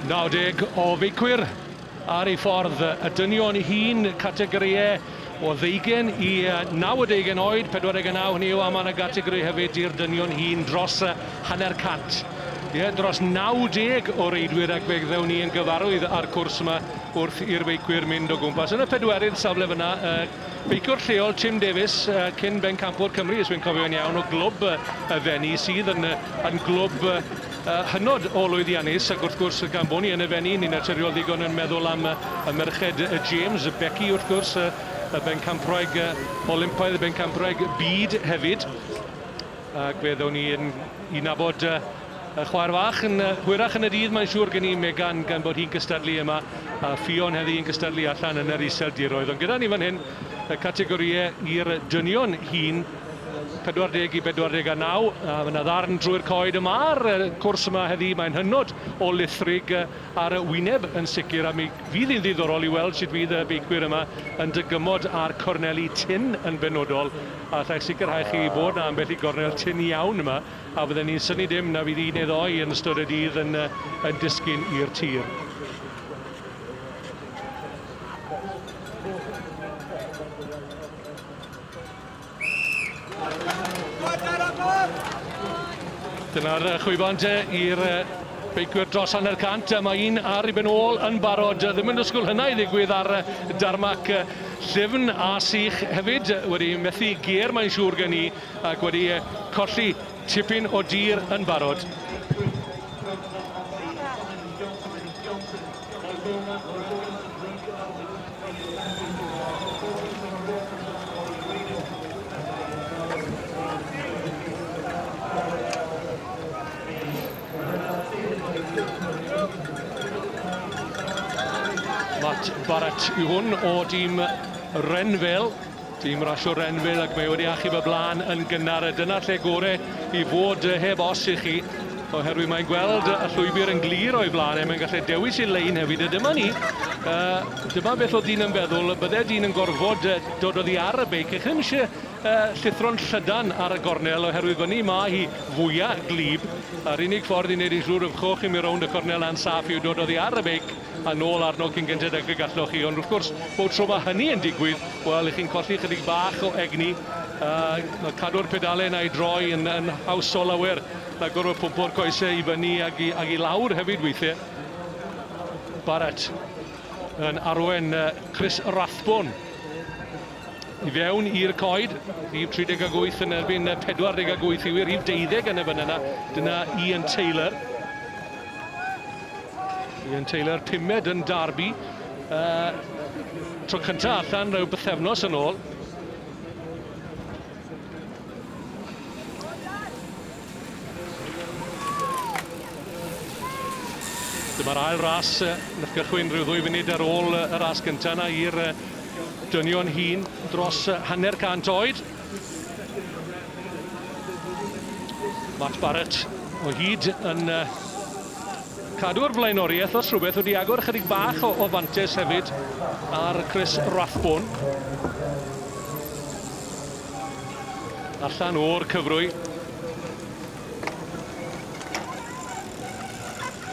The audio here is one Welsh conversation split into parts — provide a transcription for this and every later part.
Nawdeg o feicwyr ar ei ffordd y dynion i hun categoriau o ddeugen i 90 oed, 49 hynny yw, a mae yna gategori hefyd i'r dynion hun dros hanner cant. Ie, dros 90 o reidwyr ac fe gddewn ni yn gyfarwydd â'r cwrs yma Wrth i'r feicwyr mynd o gwmpas yn y pedwerydd safle fyna, y beiciwr lleol Tim Davies, cyn bencampwr Cymru, os fi'n cofio'n iawn, o glwb y Fenni, sydd yn, yn glwb hynod o lwyddiannus, ac wrth gwrs, gan bod ni yn y Fenni, ni'n naturiol ddigon yn meddwl am y merched James, Becky wrth gwrs, y bencampwraig Olympaidd, y bencampwraig byd hefyd, ac fe ddown ni yn i nabod Y chwaer fach yn hwyrach yn y dydd mae'n siŵr gen i Megan gan bod hi'n cystadlu yma a Ffion heddi yn cystadlu allan yn yr Iseldiroedd ond gyda ni fan hyn y categorïau i'r dynion hŷn 40 i 49 a mae yna ddarn drwy'r coed yma ar y cwrs yma heddi mae'n hynod o lithrig ar y wyneb yn sicr a mi fydd hi'n ddiddorol i weld sut fydd y beicwyr yma yn dygymod a'r corneli tin yn benodol a allai sicrhau chi fod na ambell i gornel tin iawn yma a fydden ni'n synnu dim na fydd un neu ddoi yn ystod y dydd yn, yn disgyn i'r tir. Dyna'r chwibant i'r beicwyr dros hanner cant. Mae un ar i ben ôl yn barod. Ddim yn dysgwyl hynna i ddigwydd ar darmac llyfn a sych hefyd. Wedi methu ger mae'n siŵr gen i. ac wedi colli tipyn o dir yn barod. Matt Barrett yw hwn o dîm Renville. Tîm rasio Renville ac mae wedi achub y blaen yn gynnar a dyna'r lle gore i fod heb os i chi oherwydd mae'n gweld y llwybr yn glir o'i flaen e, mae'n gallu dewis ei lein hefyd a dyma ni, uh, dyma beth o dyn yn feddwl, bydde dyn yn gorfod uh, dod oddi ar y beic, eich ddim eisiau uh, llithro'n llydan ar y gornel oherwydd fyny mae hi fwyaf glib, a'r unig ffordd i wneud yn siŵr y fchwch i mi rownd y cornel a'n saff yw dod oddi ar y beic, a nôl arno cyn gynted ag y galloch chi. Ond wrth gwrs, bob tro mae hynny yn digwydd, wel, chi'n colli chydig bach o egni. Uh, cadw'r pedale yna i droi yn, yn hawsol lawer na gorfod pwmpo'r coesau i fyny ag i, ag i lawr hefyd weithiau. Barrett yn arwen uh, Chris Rathbone i fewn i'r coed, rhif 38 yn erbyn 48 i wir, rhif deuddeg yn y fan yna, dyna Ian Taylor. Ian Taylor, pumed yn Derby. Uh, tro cyntaf allan rhyw bythefnos yn ôl. Dyma'r ail ras yn eich gychwyn rhyw ddwy funud ar ôl y ras gyntaf yna i'r dynion hun dros hanner cant oed. Matt Barrett o hyd yn cadw'r flaenoriaeth os rhywbeth wedi agor ychydig bach o, o fantes hefyd ar Chris Rathbone. Allan o'r cyfrwy.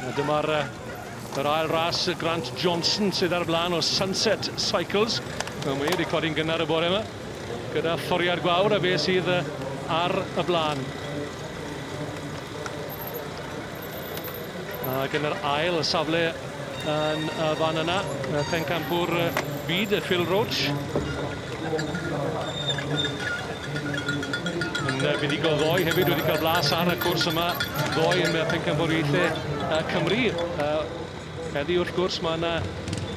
A dyma'r yr ail ras Grant Johnson sydd ar y blaen o Sunset Cycles. Mae wedi codi'n gynnar y bore yma. Gyda thoriad gwawr a fe sydd ar y blaen. Ac yn yr ail safle yn y fan yna, pencampwr byd, Phil Roach. Yn fuddugol ddoe hefyd wedi cael blas ar y cwrs yma ddoe yn pencampwriaethau Cymru. Heddiw wrth gwrs mae yna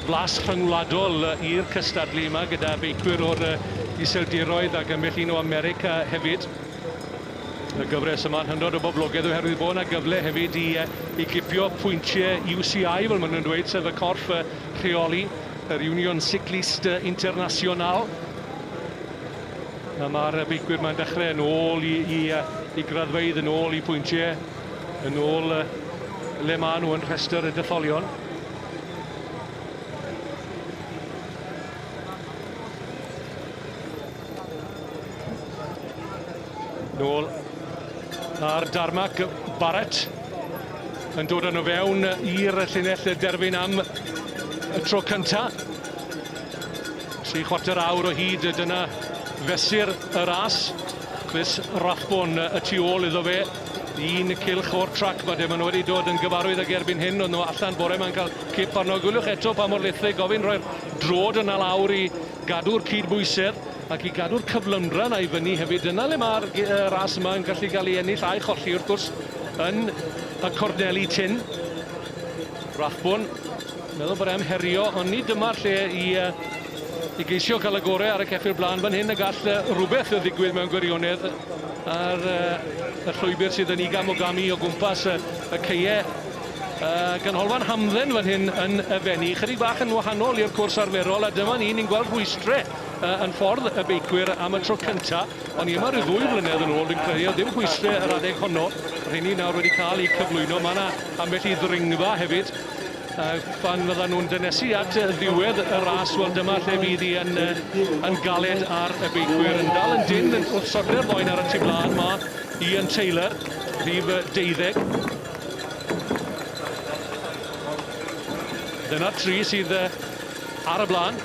flas rhyngwladol i'r cystadlu yma gyda beicwyr o'r Iseldiroedd ac ambell un o America hefyd. Y gyfres yma'n hynod o boblogaidd oherwydd bod yna gyfle hefyd i, i gipio pwyntiau UCI fel maen nhw'n dweud, sef y corff rheoli yr Union Cycliste Internationale. A mae'r beicwyr mae'n dechrau yn ôl i, i, i graddfeydd yn ôl i pwyntiau. Yn ôl uh, le maen nhw yn rhestr y detholion. Nôl ar Darmac Barrett yn dod yn o fewn i'r llinell derfyn am y tro cynta. Tri chwarter awr o hyd dyna fesur y ras. Chris Rathbone y tu ôl iddo fe. Yn y cylch o'r trac, mae Demon wedi dod yn gyfarwydd ag erbyn hyn, oedd nhw allan bore mae'n cael cip arno. Gwyliwch eto pa mor lethrug gofyn rhoi'r drod yna lawr i gadw'r cyd-bwysedd ac i gadw'r cyflymdra yna i fyny hefyd. Dyna le mae'r ras yma yn gallu cael ei ennill a'i cholli wrth gwrs yn y corneli tin. Rathbwn, meddwl bod e'n herio, ond ni dyma'r lle i I geisio cael y gorau ar y ceffyl blaen fan hyn y gall rhywbeth ddigwydd mewn gwirionedd ar y llwybr sydd yn ugain o gami o gwmpas y ceie. Y ganolfan hamdden fan hyn yn y Fenni, chydig bach yn wahanol i'r cwrs arferol a dyma ni, ni'n gweld rhwystre yn ffordd y beicwyr am y tro cynta. O'n ni yma rhyw ddwy flynedd yn ôl, dwi'n credu, oedd dim rhwystre yr adeg honno. Rheini nawr wedi cael eu cyflwyno. Mae yna ambell i ddringfa hefyd. A phan fyddan nhw'n dynesu at ddiwedd y ras, wel dyma lle fydd hi yn, yn galed ar y beicwyr. Yn dal yn dyn yn wrth sodle'r boen ar y tu blaen, mae Ian Taylor, rhif deuddeg. Dyna'r tri sydd ar y blaen.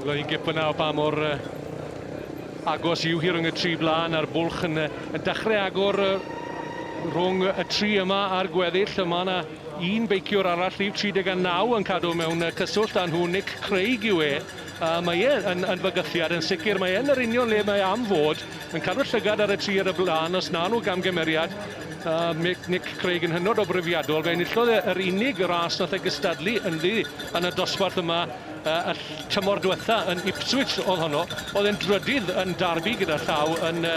Loi gip yna o ba mor agos yw hi rhwng y tri blaen a'r bwlch yn, yn dechrau agor rhwng y tri yma a'r gweddill. Mae yna un beiciwr arall, rhif 39, yn cadw mewn cyswllt â nhw. Nick Craig yw e. A mae e yn, yn fygythiad, yn sicr. Mae e yn yr union le mae am fod, yn cadw'r llygad ar y tri ar y blaen, os na nhw gamgymeriad. A Mick, Nick Craig yn hynod o brofiadol. Fe enillodd e yr unig ras nath e gystadlu ynddi yn y dosbarth yma uh, y tymor diwetha yn Ipswich oedd honno. Oedd e'n drydydd yn Derby gyda llaw yn uh,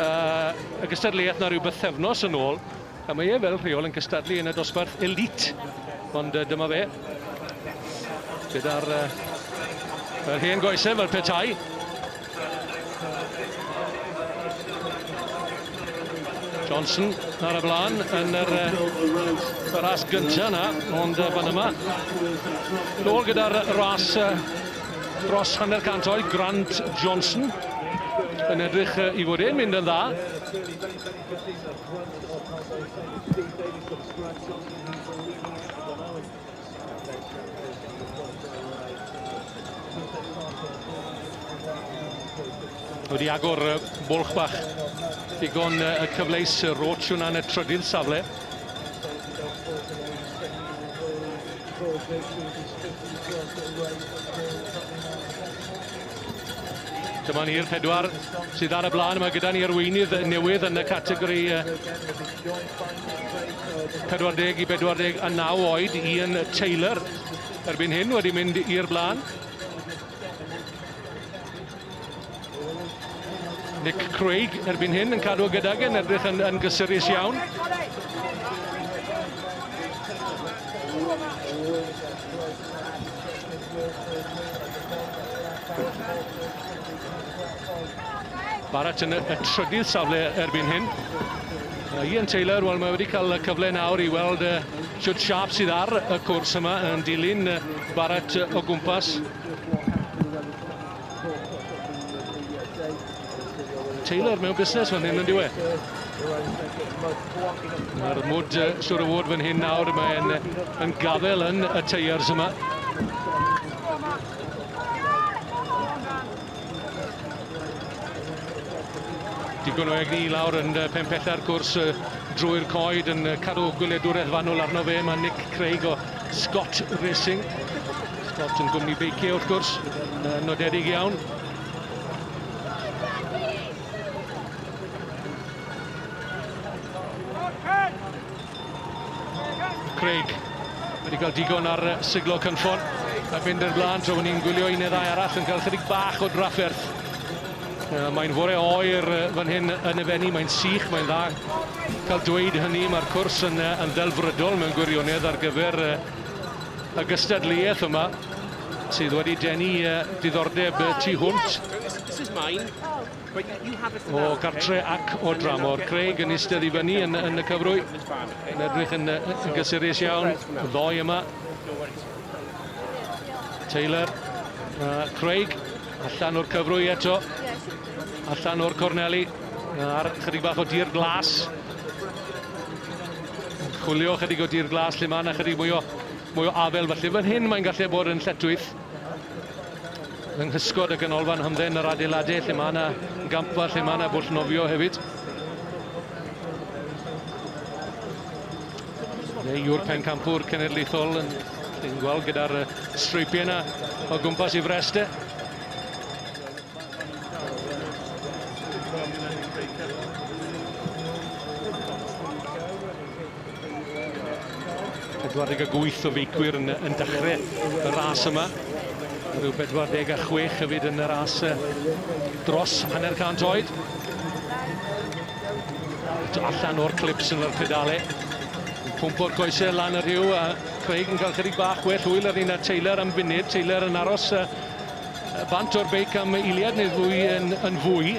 uh, y gystadleuaeth na rhyw bythefnos yn ôl. A mae e fel rheol yn cystadlu yn y dosbarth elite, ond dyma fe, gyda'r yr hen goesau fel petai. Johnson ar y blaen yn yr, y ras gyntaf yna, ond fan yma. Nôl gyda'r ras dros hanner cant oed, Grant Johnson yn edrych i fod e'n mynd yn dda. Wedi agor y bwlch bach. Digon y cyfleus y roach yna yn y trydydd safle. Dyma ni'r pedwar sydd ar y blaen. Mae gyda ni arweinydd newydd yn y categori 40 i 49 oed, Ian Taylor. Erbyn hyn wedi mynd i'r blaen. Nick Craig erbyn hyn yn cadw gydag yn edrych yn, yn gysurus iawn. Barrett yn y, y trydydd safle erbyn hyn. Uh, Ian Taylor, wel mae wedi cael y cyfle nawr i weld uh, siwt siap sydd ar y cwrs yma yn dilyn uh, Barrett uh, o gwmpas. Taylor mewn busnes fan hyn yn diwe. Mae'r mwd uh, siwr o fod fan hyn nawr, mae'n yn gafel yn y teiars yma. Digon o egni lawr yn uh, pen pella'r cwrs uh, drwy'r coed yn uh, cadw gwyliadwraeth fanwl arno fe. Mae Nick Craig o Scott Racing. Scott yn gwmni beicio wrth gwrs, uh, nodedig iawn. Craig wedi cael digon ar siglo cynffon a fynd i'r blaen tra bod ni'n gwylio un neu ddau arall yn cael chydig bach o drafferth. Mae'n fore oer fan hyn yn y fenni, mae'n sych, mae'n dda cael dweud hynny. Mae'r cwrs yn, yn ddelfrydol mewn gwirionedd ar gyfer y gystadleuaeth yma. sydd wedi denu diddordeb y tu hwnt o gartre ac o dramor. Craig yn eistedd i fyny yn, yn y cyfrwy, yn edrych yn, yn gysurus iawn, y ddoi yma. Taylor, uh, Craig, allan o'r cyfrwy eto, allan o'r corneli, ar chydig bach o dir glas. Chwilio chydig o dir glas lle mae yna chydig mwy o Mwy o afael falle fan hyn, mae'n gallu bod yn lletwith yng nghysgod y ganolfan hamdden yr adeiladau lle mae yna gampfa, lle mae yna bwll nofio hefyd. Neu yw'r pencampwr cenedlaethol yn chi'n gweld gyda'r streipiau yna o gwmpas i frest e. 48 o feicwyr yn, yn dechrau y ras yma. Rhyw 46 hefyd yn y ras dros hanner cant oed. Eto allan o'r clips yn yr pedale. Pwmp o'r goesau lan y rhyw a Craig yn cael chydig bach well hwyl ar un a Taylor am funud. Taylor yn aros uh, bant o'r beic am eiliad neu ddwy yn, yn fwy.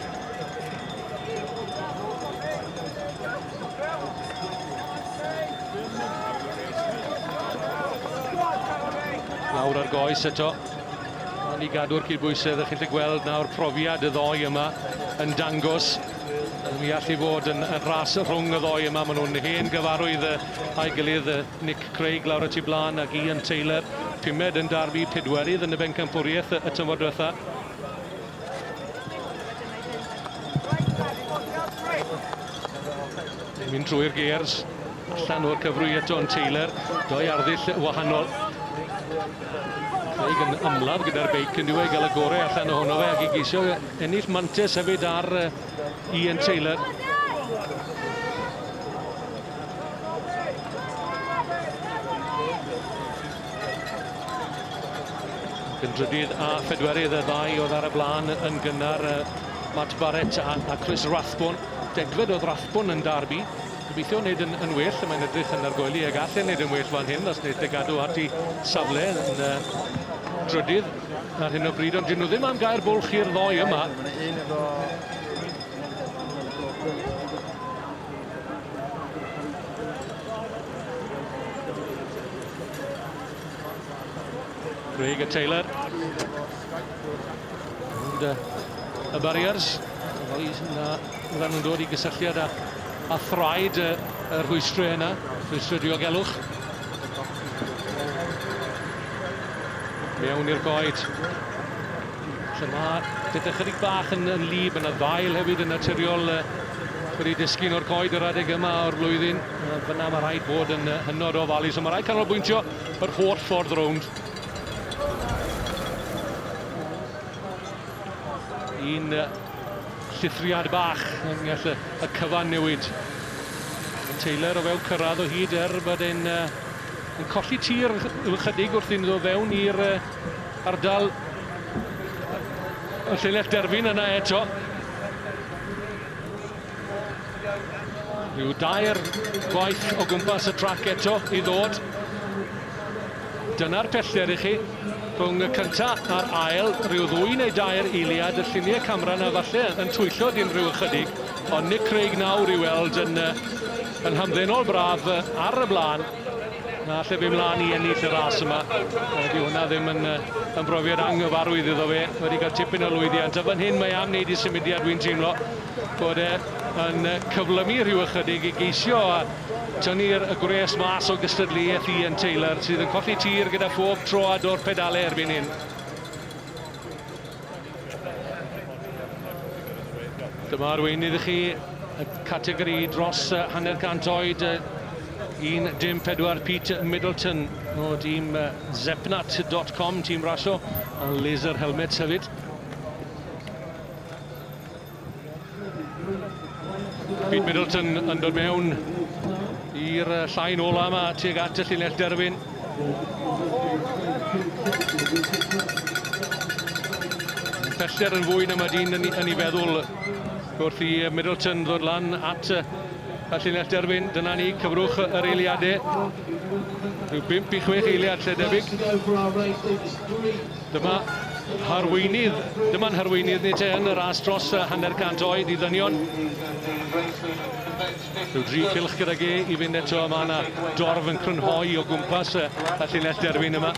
Nawr ar goes eto. Ond i gadw'r cydbwysedd, ych chi'n gweld nawr profiad y ddoi yma yn dangos mi all i fod yn, yn ras rhwng y ddoi yma. Maen nhw'n hen gyfarwydd a'i gilydd, Nick Craig lawr y tu blaen ac Ian Taylor, pumed yn darfu, pedwerydd yn y bencampwriaeth y tymor diwetha. Yn mynd drwy'r gears, allan o'r cyfrwy eto yn Taylor, doi arddull wahanol. Craig yn ymladd gyda'r beic yn diwy gael y gorau allan ohono fe ac i geisio ennill mantes hefyd ar Ian Taylor. Yn drydydd a phedwerydd y ddau oedd ar y blaen yn gynnar, Matt Barrett a, a Chris Rathbone. Degfed oedd Rathbone yn darbu. Gobeithio wneud yn, yn well, y mae'n edrych yn argoeli ag allan wneud yn well fan hyn os wneud y gadw at ei safle yn uh, drydydd ar hyn o bryd, ond dyn nhw ddim am gair bwlch i'r ddoi yma. Craig a Taylor. Rownd y barriers. Fel i na, rhan nhw'n dod i gysylltiad â, a thraed y, y rhwystrau yna, rhwystrau diogelwch. Mewn i'r goed. Lle mae pethau chydig bach yn, yn lib, yna ddail hefyd yn naturiol uh, wedi disgyn o'r coed yr adeg yma o'r flwyddyn. Fyna mae rhaid bod yn hynod o ofalus, ond mae rhaid canolbwyntio yr holl ffordd rownd. Un llithriad bach yn gallu y cyfan newid. Mae Taylor o fewn cyrraedd o hyd er bod e'n yn colli tir ychydig wrth i'n ddo fewn i'r ardal y llinell derfyn yna eto. Rhyw dair gwaith o gwmpas y trac eto i ddod. Dyna'r pellter i chi. Rhwng y cynta a'r ail, rhyw ddwy neu dair eiliad, y lluniau camera na falle yn twyllo dyn rhyw ychydig, ond Nick Craig nawr i weld yn, yn hamddenol braf ar y blaen, na lle fe mlaen i ennill y ras yma. Dyw hwnna ddim yn, yn brofiad anghyfarwydd iddo fe, wedi cael tipyn o lwyddiant, a fan hyn mae am wneud i symudiad, wy'n teimlo. bod e yn cyflymu rhyw ychydig i geisio a tynnu'r y gwres mas o gystadleuaeth Ian Taylor sydd yn colli tir gyda phob troad o'r pedalau erbyn hyn. Dyma arweinydd i chi y categori dros hanner cant oed 1.14 Pete Middleton o dîm zepnat.com, tîm rasio, a laser helmets hefyd. Pete Middleton yn dod mewn i'r llain ola yma tuag at y llinell derfyn. Pellter yn fwy na mae dyn yn, yn ei feddwl wrth i Middleton ddod lan at y llinell derfyn. Dyna ni, cyfrwch yr eiliadau. Rhyw 5 i 6 eiliad lle debyg. Dyma harweinydd, dyma'n harweinydd ni te yn y ras dros y hanner cant oed i ddynion. Rhyw dri cilch gyda ge i fynd eto, a mae yna dorf yn crynhoi o gwmpas y, y llinell derfyn yma.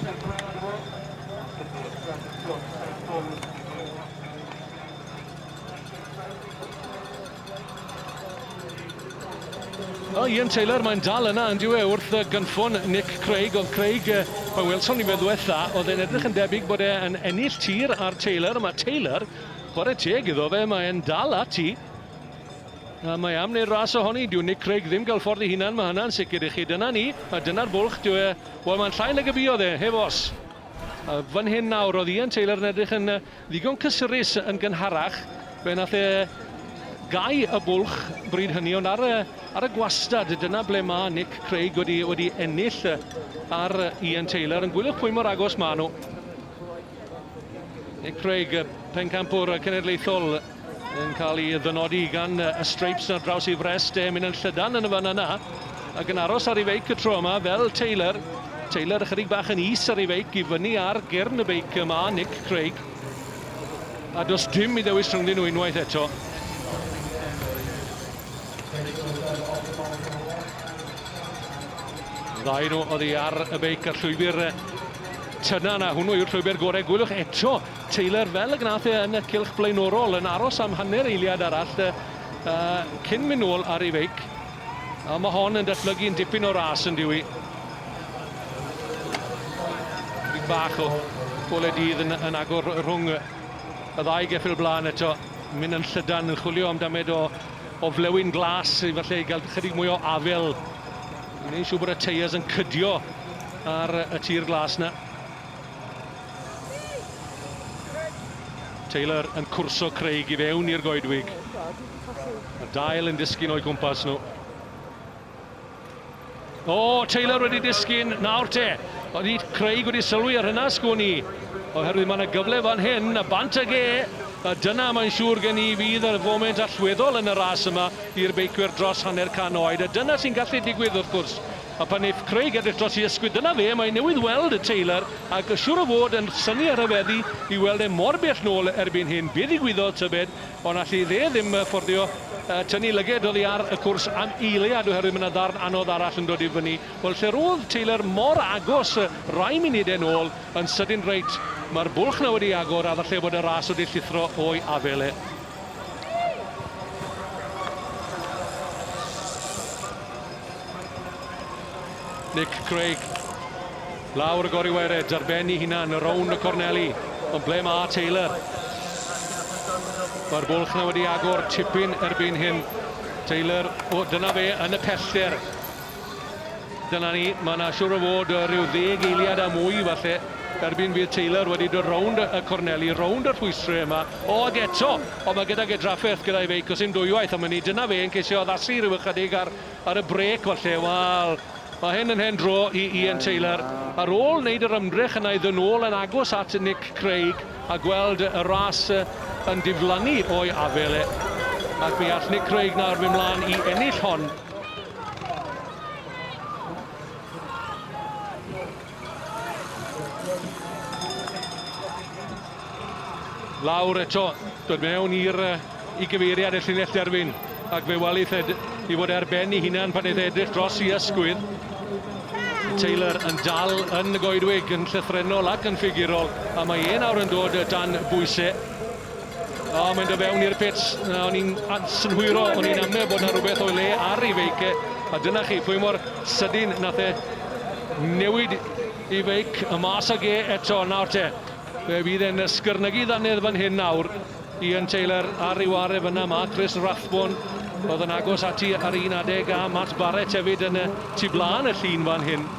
O, Ian Taylor, mae'n dal yna, yn diwe, wrth y gynffon Nick Craig. Oedd Craig, fe welsom ni fe ddwetha, oedd e'n edrych yn debyg bod e'n ennill tir ar Taylor. Mae Taylor, chwarae teg iddo fe, mae'n dal ati. A mae am wneud ras ohoni, dyw Nick Craig ddim gael ffordd i hunan, mae hynna'n sicr i chi. Dyna ni, a dyna'r bwlch, dyw e, wel mae'n llai nag y buodd e, heb os. A fan hyn nawr, oedd Ian Taylor yn edrych yn Ddigon cysurus yn gynharach, fe nath e gau y bwlch bryd hynny, ond ar y ar y gwastad, dyna ble ma' Nick Craig wedi wedi ennill ar Ian Taylor, ond gwyliwch pwy mor agos ma' nhw. Nick Craig, pencampwr cenedlaethol Yn cael ei ddynodi gan y Stripes ar draws ei frest e, mynd yn llydan yn y fan yna, ac yn aros ar ei feic y tro yma fel Taylor. Taylor ychydig bach yn is ar ei feic i fyny ar gyrn y beic yma, Nick Craig. A does dim i ddewis rhyngddyn nhw unwaith eto. Ddau nhw oddi ar y beic ar llwybr Tynan, a hwnnw yw'r llwybr gorau. Gwylwch eto Taylor, fel y gwnaeth e yn y cylch blaenorol, yn aros am hanner eiliad arall cyn mynd nôl ar ei feic. A mae hon yn datblygu'n dipyn o ras yn diwy. Rhywbeth bach o gole dydd yn, yn agor rhwng y ddau geffyl blaen eto. Mynd yn llydan, yn chwilio am damed o, o flewyn glas, i falle i gael chydig mwy o afel. Yn ei siw bod y teiers yn cydio ar y tir glas na. Taylor yn cwrso Craig i fewn i'r goedwig. Mae dail yn disgyn o'i gwmpas nhw. O, Taylor wedi disgyn, nawr te. Oedd Craig wedi sylwi ar hynna, sgwn i. Oherwydd mae yna gyfle fan hyn, a bant ag e. A dyna mae'n siŵr gen i fydd y foment allweddol yn y ras yma i'r beicwyr dros hanner can oed. A dyna sy'n gallu digwydd wrth gwrs. A phan neith Craig edrych dros i ysgwydd dyna fe mae newydd weld y Taylor ac siwr o fod yn synnu a rhyfeddu i weld e mor bell nôl erbyn hyn be ddigwyddodd tybed ond alli fe ddim fforddio tynnu lyged oddi ar y cwrs am eiliad oherwydd mae na ddarn anodd arall yn dod i fyny wel lle rodd Taylor mor agos rai munudau nôl yn sydyn reit mae'r bwlch na wedi agor a falle bod y ras wedi llithro o'i afel e. Nick Craig. Lawr y gori wered ar ben i hunan, y rownd y corneli. Ond ble mae Taylor? Mae'r bwlch na wedi agor tipyn erbyn hyn. Taylor, o, dyna fe yn y pellter. Dyna ni, mae yna siwr o fod rhyw ddeg eiliad a mwy falle erbyn fydd Taylor wedi dod rownd y corneli, rownd y rhwystrau yma. O, ac eto! Ond mae gydag e drafferth gyda'i feic, os dim dwywaith am wn i. Dyna fe yn ceisio addasu rhyw ychydig ar ar y brêc falle. Wel, mae hyn yn hen dro i Ian Taylor. Ar ôl wneud yr ymdrech yna i ddod nôl yn agos at Nick Craig a gweld y ras yn diflannu o'i afael e. Ac mi all Nick Craig nawr mynd mlaen i ennill hon. Lawr eto, dod mewn i'r i gyfeiriad y llinell derfyn ac fe wali lle i fod ar ben i hunan pan eith edrych dros i ysgwydd. Taylor yn dal yn y goedwig yn llythrenol ac yn ffigurol a mae e nawr yn dod dan bwysau. O, mae'n dod fewn i'r pits. Na, o'n i'n synhwyro, o'n i'n amlio bod na rhywbeth o'i le ar ei feic e. A dyna chi, pwy mor sydyn nath e newid i feic y mas ag e eto. Nawr te, fe fydd e'n ysgyrnygu ddannedd fan hyn nawr. Ian Taylor ar ei ware fyna, mae Chris Rathbone oedd yn agos ati ar un adeg a Matt Barrett hefyd yn y tu blaen y llun fan hyn.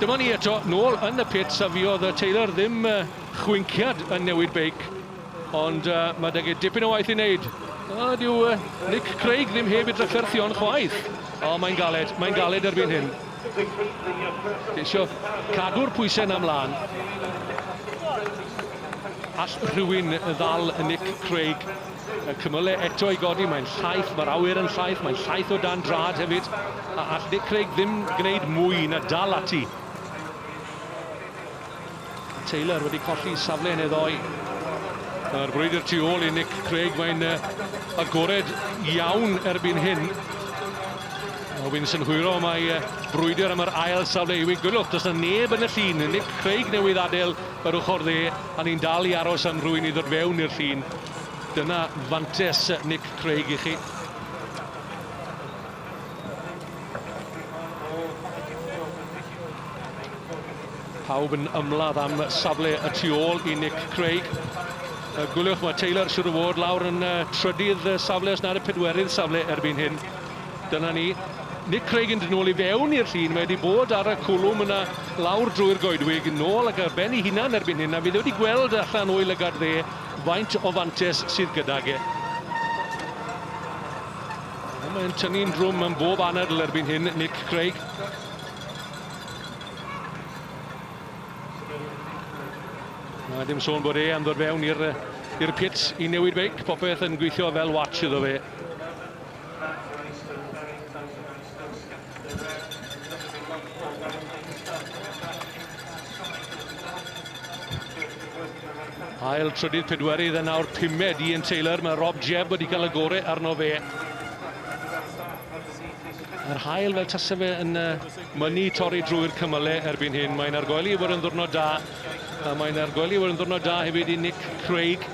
Dyma ni eto, nôl yn y pits, a fuodd yy Taylor ddim yy chwinciad yn newid beic, ond yy ma' deg e dipyn o waith i wneud. O, dyw yy Nick Craig ddim heb ei drafferthion chwaith. O, mae'n galed, mae'n galed erbyn hyn. Ceisio cadw'r pwysau na mlaen. All rhywun ddal Nick Craig? Y cymylau eto i godi, mae'n llaith, mae'r awyr yn llaith, mae'n llaith o dan drad hefyd. A all Nick Craig ddim gwneud mwy na dal ati. A Taylor wedi colli safle yn ei ddoi. Mae'r brwydr tu ôl i Nick Craig, mae'n agored iawn erbyn hyn. A wy'n synhwyro mae brwydr am yr ail safle yw i gwylwch. Does na neb yn y llun. Nick Craig newydd adael yr ochr dde, a ni'n dal i aros am rwy'n i ddod fewn i'r llun. Dyna fantes Nick Craig i chi. Pawb yn ymladd am safle y tu ôl i Nick Craig. Y gwyliwch mae Taylor siwr o fod lawr yn trydydd safle os nad y pedwerydd safle erbyn hyn. Dyna ni. Nick Craig yn dyn ôl i fewn i'r llun. Mae wedi bod ar y cwlwm yna lawr drwy'r goedwig, nôl ac ar ben ei hunan erbyn hyn. A fi wedi gweld allan o'i lygad dde Faint o fantes sydd gydag e? Mae'n tynnu'n drwm yn bob anadl erbyn hyn, Nick Craig. Na ddim sôn bod e am ddod fewn i'r pits i newid beic, popeth yn gweithio fel watch iddo fe. Ail trydydd pedwerydd yn awr pumed Ian Taylor. Mae Rob Jebb wedi cael y gore arno fe. Yr hael fel tasa fe yn mynnu torri drwy'r cymyle erbyn hyn. Mae'n argoeli fod yn ddwrnod da. A mae'n argoeli fod yn ddwrnod da hefyd i Nick Craig.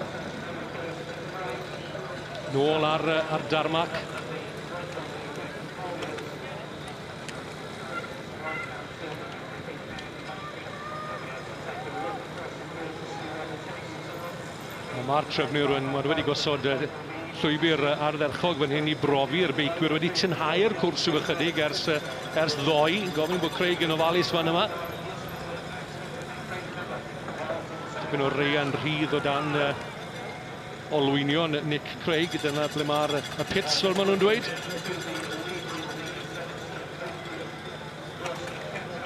Nôl ar, ar darmac. Mae'r trefnwyr yn wedi gosod llwybr ardderchog fan hyn i brofi'r beicwyr wedi tynhau'r cwrs rhyw ychydig ers, ers ddoe. Gofyn bod Craig yn ofalus fan yma. Tipyn o reian rhydd o dan uh, olwynion Nick Craig, dyna ble mae'r y pits fel maen nhw'n dweud.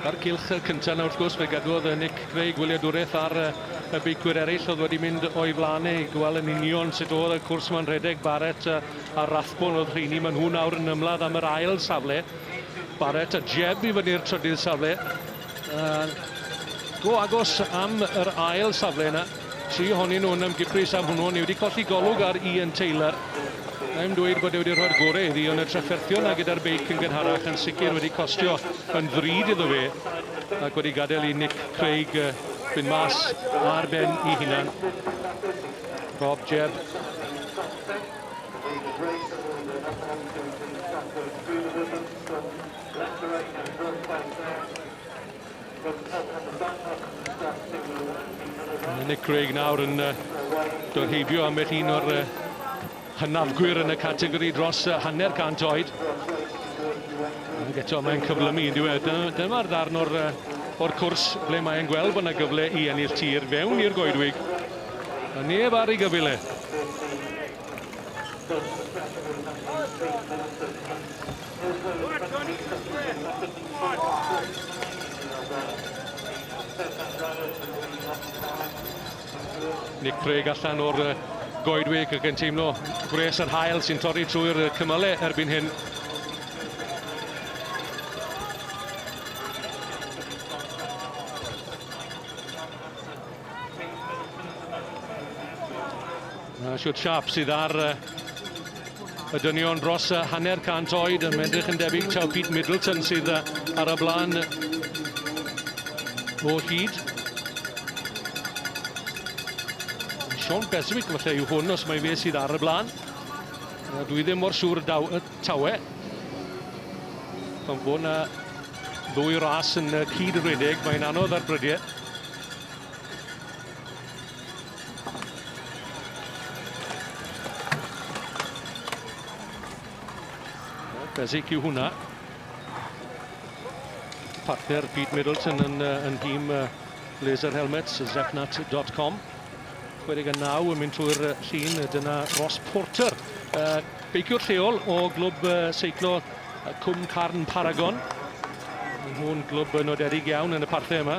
A'r cilch cyntaf na wrth gwrs fe gadwodd Nick Craig wyliadwraeth ar y beicwyr eraill oedd wedi mynd o'i flaen ei gweld yn union sut oedd y cwrs mae'n rhedeg Barrett a Rathbone oedd rheini maen nhw nawr yn ymladd am yr ail safle Barrett a Jeb i fyny'r trydydd safle uh, go agos am yr ail safle yna Tri ohonyn nhw yn ymgypris am hwnnw, ond ni wedi colli golwg ar Ian Taylor. Na i'm dweud bod e wedi rhoi'r gorau iddi, ond y trafferthion na gyda'r beic yn gynharach yn sicr wedi costio yn ddrud iddo fe, ac wedi gadael i Nick Craig fynd mas ar ben i hunan. Rob Jebb. Mae Nick Craig nawr yn dod heibio ambell un o'r hynafgwyr yn y categori dros hanner cant oed. Ac eto mae'n cyflymu yn diwedd. Dyma'r ddarn o'r, or cwrs ble mae'n gweld bod yna gyfle i ennill tir fewn i'r goedwig. A neb ar ei gyfil e. Nick Craig allan o'r goedwig ac yn teimlo gwres yr hael sy'n torri trwy'r cymylau erbyn hyn. Dyna shwt siâp sydd ar y dynion dros hanner cant oed yn edrych yn debyg taw Pete Middleton sydd ar y blaen o hyd. Sean Beswick falle yw hwn os mae fe sydd ar y blaen. A dwi ddim mor siŵr daw, y tawe. Pan fo na ddwy ras yn cyd-redeg, mae'n anodd ar brydiau. Bezic yw hwnna. Partner Pete Middleton yn, yn nhîm Laser Helmets, zepnat.com. 29 yn mynd trwy'r llun, dyna Ross Porter, uh, beiciwr lleol o glwb uh, seiclo Cwm Carn Paragon. Mae nhw'n glwb nodedig iawn yn y parthe yma.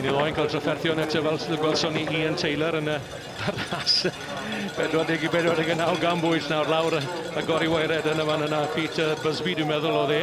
Yn ei loen cael trafferthion eto fel sydd y gwelson ni Ian Taylor yn y ras 40 i 49 gan bwyll nawr lawr y gori waered yn y fan yna Peter Busby dwi'n meddwl oedd e.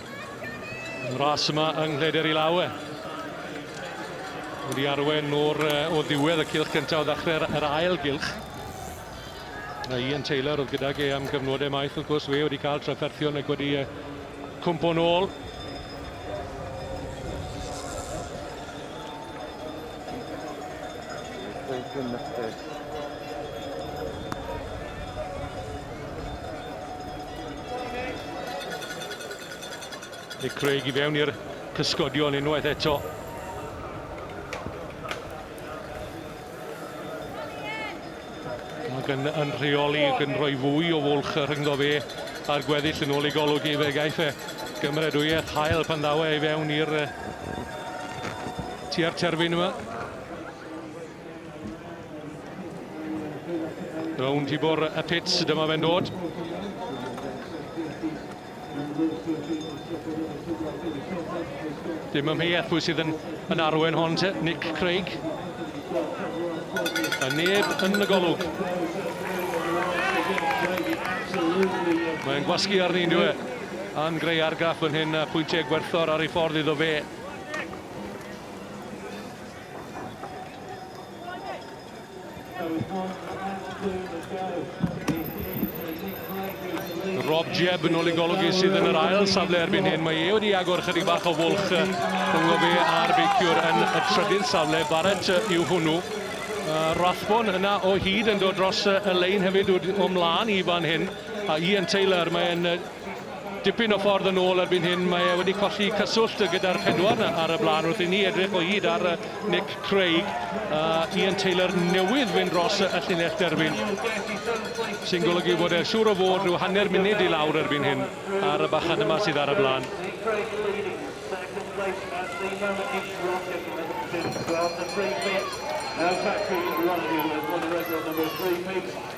Yn ras yma yng Nghleder i law e. Wedi arwen o'r o ddiwedd y cilch gyntaf o ddechrau'r yr ail gylch. A Ian Taylor oedd gydag e am gyfnodau maith wrth gwrs fe wedi cael trafferthion ac wedi e, cwmpo'n ôl. Nick Craig i fewn i'r cysgodion unwaith eto. Ac yn, yn rheoli ac yn rhoi fwy o fwlch rhyngddo fe a'r gweddill yn ôl ei golwg i fe. Gaiff e gymredwyedd hael pan ddaw e i fewn i'r tua'r terfyn yma. Rownd i bwr y pits, dyma fe'n dod. Dim ymheuaeth pwy sydd yn, yn arwen hon te, Nick Craig. A neb yn y golwg. Mae'n gwasgu arni yn diwe. A'n greu argraff yn hyn a pwyntiau gwerthor ar ei ffordd iddo fe. Rob Jebb yn ôl i golygu sydd yn yr ail safle erbyn hyn. Mae e wedi agor chydig bach o fwlch rhwng fe a'r beiciwr yn y trydydd safle. Barrett yw hwnnw. Uh, Rathbon yna o hyd yn dod dros y lein hefyd o mlaen i fan hyn. A Ian Taylor, mae'n Dipyn o ffordd yn ôl erbyn hyn, mae e wedi colli cyswllt gyda'r pedwar na ar y blaen wrth i ni edrych o hyd ar Nick Craig a Ian Taylor newydd fynd dros y llinell derfyn sy'n golygu bod e siŵr o fod rhyw hanner munud i lawr erbyn hyn ar y bachan yma sydd ar y blaen. Now tackling Ryan Hughes, one of the record number three picks.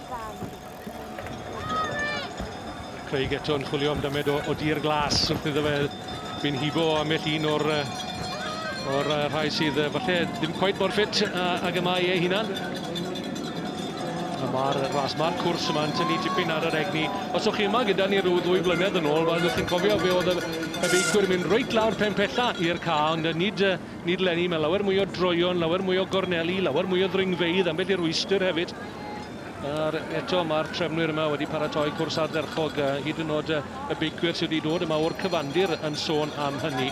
Craig eto yn chwilio am damed o, o dir glas wrth iddo fe fi'n hibo ambell un o'r, o'r rhai sydd falle ddim cweit mor ffit ag y mae ei hunan. Mae'r ras, mae'r cwrs yma'n tynnu tipyn ar yr egni. Os o'ch chi yma gyda ni rhyw ddwy flynedd yn ôl, wel, chi'n cofio fe oedd y, y feicwyr yn mynd reit lawr pen pella i'r ca, ond nid, nid lenni, mae lawer mwy o droion, lawer mwy o gorneli, lawer mwy o ddringfeidd, ambell i'r rwystr hefyd. Nawr eto mae'r trefnwyr yma wedi paratoi cwrs ardderchog, hyd yn oed y beicwyr sydd wedi dod yma o'r cyfandir yn sôn am hynny.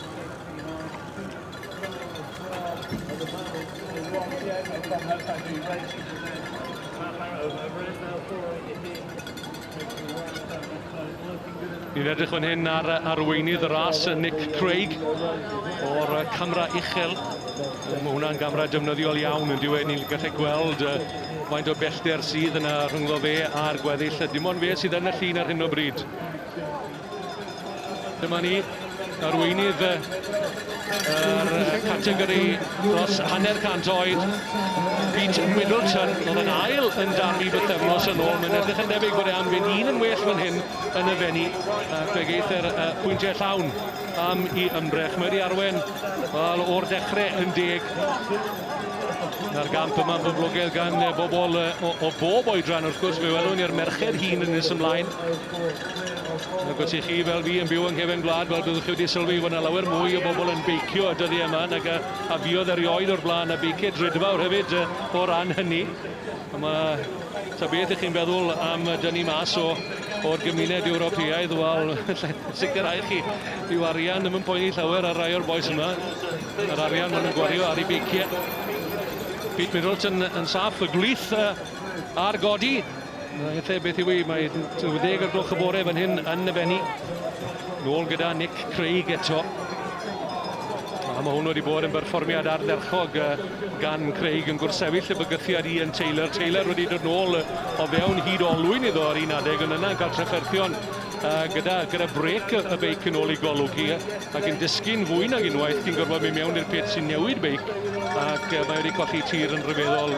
Ni'n edrych fan hyn ar arweinydd y ras, Nick Craig, o'r camera uchel. Mae hwnna'n gamera defnyddiol iawn yn diwedd. Ni'n gallu gweld faint o bellter sydd yna rhyngddo fe a'r gweddill. Dim ond fe sydd yn y llun ar hyn o bryd. Dyma ni, arweinydd y categori dros hanner cant oed, Pete Middleton, oedd yn ail yn darfu bythefnos yn ôl. Mae'n edrych yn debyg bod e am fynd un yn well fan hyn yn y fenni, ac fe geith e'r uh, pwyntiau llawn am i ymdrech. Mae wedi arwen wel, o'r dechrau yn deg na'r gamp yma boblogaidd gan bobl o, o bob oedran wrth gwrs fe welwn ni'r merched hun yn nes ymlaen Agos i chi fel fi yn byw yng nghefn gwlad, fel byddwch chi wedi sylwi, fod 'na lawer mwy o bobl yn beicio y dyddiau yma nag a, a fuodd erioed o'r blaen, a beiciau drudfawr hefyd uh, o ran hynny. A mae, ta beth ych chi'n feddwl am dynnu mas o, o'r gymuned Ewropeaidd, wel, sicrhau chi, yw arian ddim yn poeni llawer ar rai o'r boes yma, yr arian maen nhw'n gwario ar ei beiciau. Pete Middleton yn saff, y gwlith uh, ar godi. Efallai beth yw i, mae 20 ar gloch y bore fan hyn yn y fenni. Nôl gyda Nick Craig eto. A mae hwn wedi bod yn berfformiad ardderchog gan Craig yn gwrsefyll y bygythiad i yn Taylor. Taylor wedi dod nôl o fewn hyd olwyn iddo ar un adeg yn yna yn cael trefferthion gyda, gyda brec y beic yn ôl i golygu ac yn disgyn fwy nag unwaith cyn gorfod mynd mewn i'r pit sy'n newid beic ac mae wedi colli tir yn rhyfeddol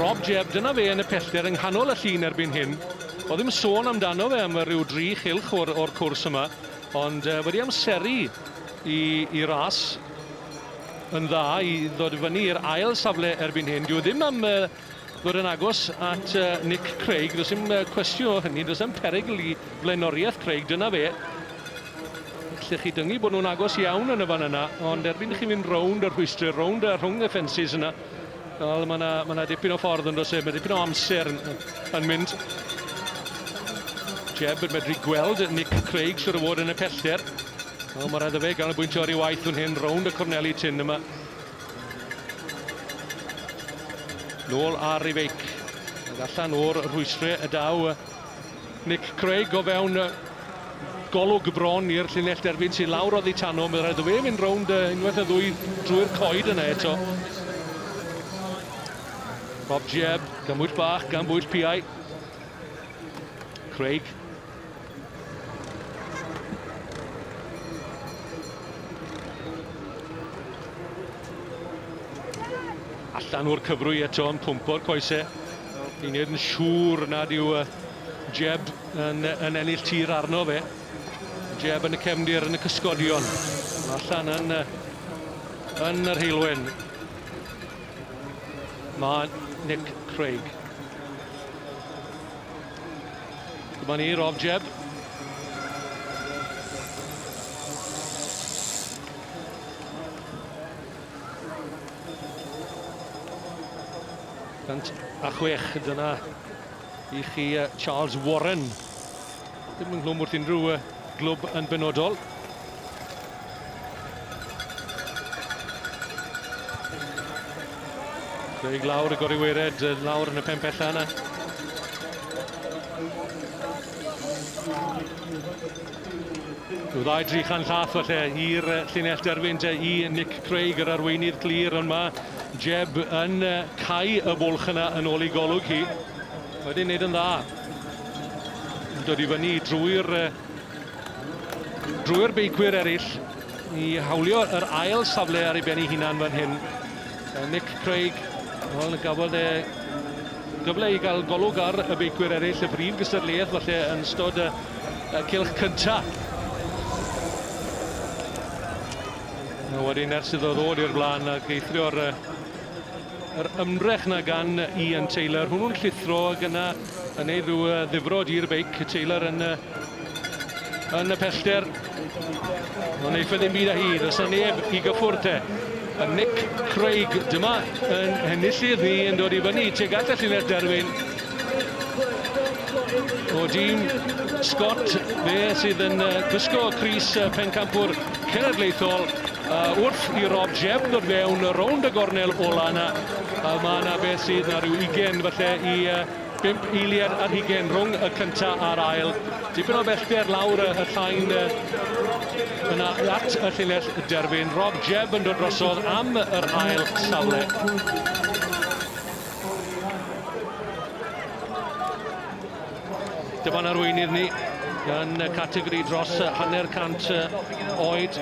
Rob Jebb, dyna fe yn y pellter yng nghanol y llun erbyn hyn. Oedd ddim sôn amdano fe am ryw dri chylch o'r, or cwrs yma, ond uh, wedi amseru i, i ras yn dda i ddod fyny i'r ail safle erbyn hyn. Dyw e ddim am uh, Fod yn agos at Nick Craig, does dim cwestiwn o hynny, does dim perygl i flaenoriaeth Craig, dyna fe. Lle chi dyngu bod nhw'n agos iawn yn y fan yna, ond erbyn chi fynd rownd y rhwystrau, rownd y rhwng y ffensys yna, wel, mae yna, mae yna dipyn o ffordd yn does e, mae dipyn o amser yn, yn mynd. Jeb yn medru gweld Nick Craig sydd o fod yn y pellter. O, mae rhaid y fe ganolbwyntio ar ei waith fan hyn, rownd y corneli tyn yma. Nôl ar ei feic. Ag allan o'r rhwystrau y daw Nick Craig o fewn golwg bron i'r llinell derbyn sy'n lawr oddi tano. Mae'n rhaid o fe fynd rownd unwaith y ddwy drwy'r coed yna eto. Rob Jebb, gymwyll bach gan bwyll piau. Craig Allan o'r cyfrwy eto yn pwmpo'r coese. Ni'n nid yn siŵr nad yw uh, Jeb yn, yn ennill tir arno fe. Jeb yn y cefndir yn y cysgodion. Allan yn, uh, yn yr heilwen. Mae Nick Craig. Dyma ni, Rob Jebb. Cant a chwech, dyna i chi Charles Warren. Dim yn hlwm wrth unrhyw Glwb yn benodol. Craig lawr y gori wered, lawr yn y pen pella yna. Rhyw ddau dri chan llath falle i'r llinell derfyn te i Nick Craig, yr arweinydd clir, ond mae Jeb yn cau y bwlch yna yn ôl i golwg hi. Wedi wneud yn dda. yn dod i fyny drwy'r drwy'r beicwyr eraill i hawlio yr ail safle ar ei ben ei hunan fan hyn. Nick Craig, wel, gafodd e gyfle i gael golwg ar y beicwyr eraill, y brif gystadleuaeth falle yn stod y, y cilch cynta. A wedyn ers iddo ddod i'r blaen ac eithrio'r Yr ymdrech 'na gan Ian Taylor. Hwnnw'n llithro ag yna yn neud rhyw yy, ddifrod i'r beic. Taylor yn yy, yn y pellter. Ond neith e ddim byd â hi. Does 'na neb i gyffwrdd te. A Nick Craig dyma yn henillydd ni yn dod i fyny tuag at y llinell derfyn. O dîm Scott, fe sydd yn yy, gwisgo crys yy, pencampwr cenedlaethol. A wrth i Rob Jebb ddod fewn rownd y gornel ola yna, a mae yna beth sydd na rhyw ugen falle i uh, bimp eiliad ar hugen rhwng y cynta a'r ail. Dipyn o bellter lawr y llain uh, yna at y llinell derfyn. Rob Jebb yn dod drosodd am yr ail safle. Dyma'n arweinydd ni yn y categori dros hanner cant oed.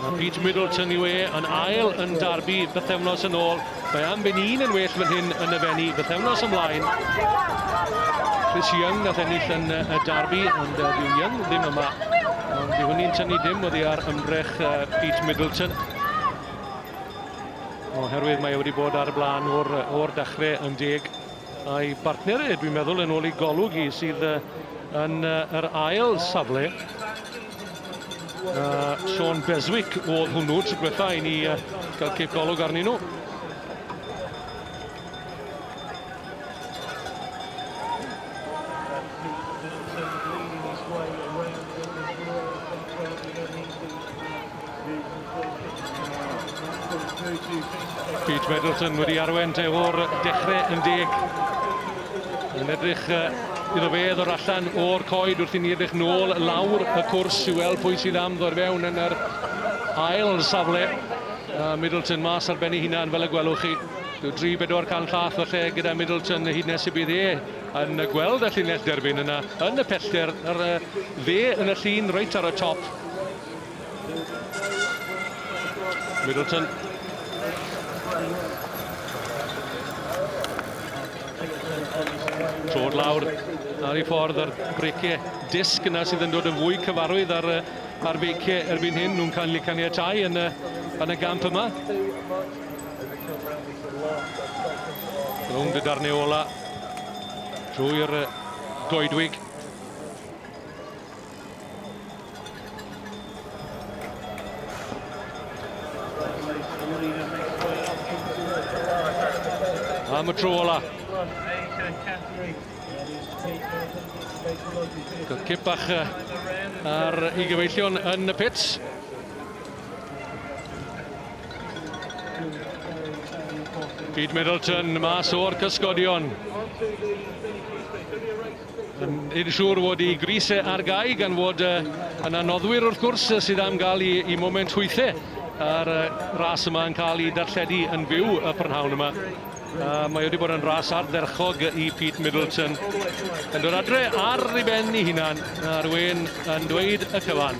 A Pete Middleton yw e yn ail yn darbu bythefnos yn ôl. Mae am ben un yn well fan hyn yn y fenni bythefnos ymlaen. Chris Young nath ennill yn y darbu, ond uh, dyw Young ddim yma. Ond dyw hynny'n tynnu dim oddi ar ymdrech uh, Pete Middleton. Oherwydd mae e wedi bod ar y blaen o'r, or dachrau yn deg. A'i bartneriaid, dwi'n meddwl, yn ôl ei golwg hi, sydd yn yr ail safle. Uh, Sean Beswick oedd hwnnw, tro gwetha i ni uh, gael cip golwg arnyn nhw. Pete Middleton wedi arwen te o'r dechrau yn deg. Yn edrych iddo fe ddod allan o'r coed wrth i ni edrych nôl lawr y cwrs i weld pwy sydd am ddod fewn yn yr ail safle. Uh, Middleton mas ar ben ei hunan fel y gwelwch chi. Dyw 3-4 can llath falle gyda Middleton hyd nes y bydd e yn gweld y llinell derbyn yna yn y pellter ar dde yn y llun reit ar y top. Middleton. Trod lawr ar ei ffordd ar breiciau disg yna sydd yn dod yn fwy cyfarwydd ar, ar feiciau erbyn hyn nhw'n cael ei caniatau yn y, yn y gamp yma. Rhwng dy darnau ola drwy'r goedwig. Am y tro ola. Cip bach ar i gyfeillion yn y pits. Pete Middleton mas o'r cysgodion. Nid siŵr fod y grys ar gau gan fod yna noddwyr wrth gwrs sydd am gael i, i moment hwythau a'r ras yma yn cael ei darlledu yn fyw y prynhawn yma. A mae wedi bod yn ras ardderchog i Pete Middleton. Yn dod adre ar ei ben ei hunan, a'r wen yn dweud y cyfan.